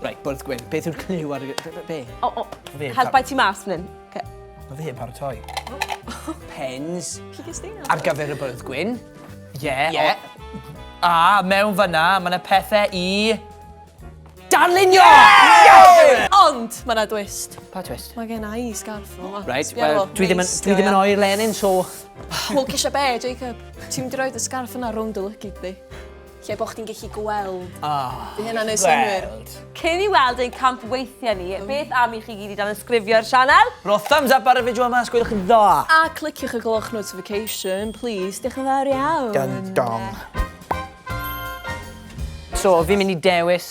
Right, bwrdd gwyn. Beth yw'r clyw ar y... Be, be, be? O, o, helpai ti mas fan hyn. Okay. Mae fe yn paratoi. Pens. Ar gyfer y bwrdd gwyn. Ie. Yeah, yeah. A mewn fyna, mae yna pethau i... Darlunio! Yeah! Yes! Ond, mae yna dwist. Pa twist? Mae gen i scarf o. Right, well, dwi ddim yn oer Lenin, so... Wel, cisio be, Jacob? Ti'n mynd i roed y scarf yna rownd y lygyd di. Lle bo chdi'n gallu gweld. Oh, Bydd hynna'n neud synnwyr. Cyn i weld ein camp weithiau ni, beth am i chi gyd i dan ysgrifio'r sianel? Ro thumbs up ar y fideo yma os gwelwch yn dda! A cliciwch y gloch notification, please, diolch yn fawr iawn! Dun dong. So, fi'n mynd i dewis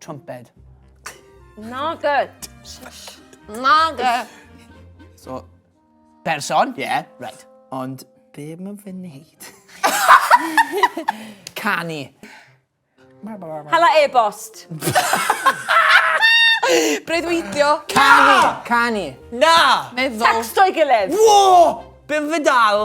Trumped. Nage! Nage! So, person, ie, yeah, right. Ond be mae fy wneud? Canu. Hala e-bost. Breuddwydio. Canu! Canu. Na! Meddwl. Sexto i gilydd. Wo! Be fy dal?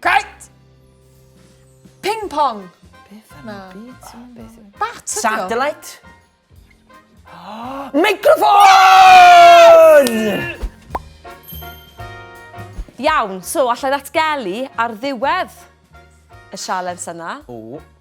Cait! Ping pong! Beth yna? Bat ydi o? Satellite? Microphone! Iawn, so allai ddatgelu ar ddiwedd y sialens yna. O.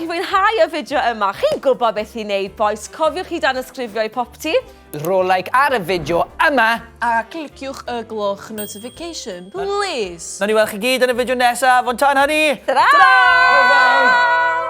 I fwynhau y fideo yma. Chi'n gwybod beth i wneud bois, cofiwch i danysgrifio i Popty. Rho like ar y fideo yma. A cliciwch y gloch notification plis. Nawn ni weld chi gyd yn y fideo nesaf, ond tan hynny. Tara! Hwyl fawr!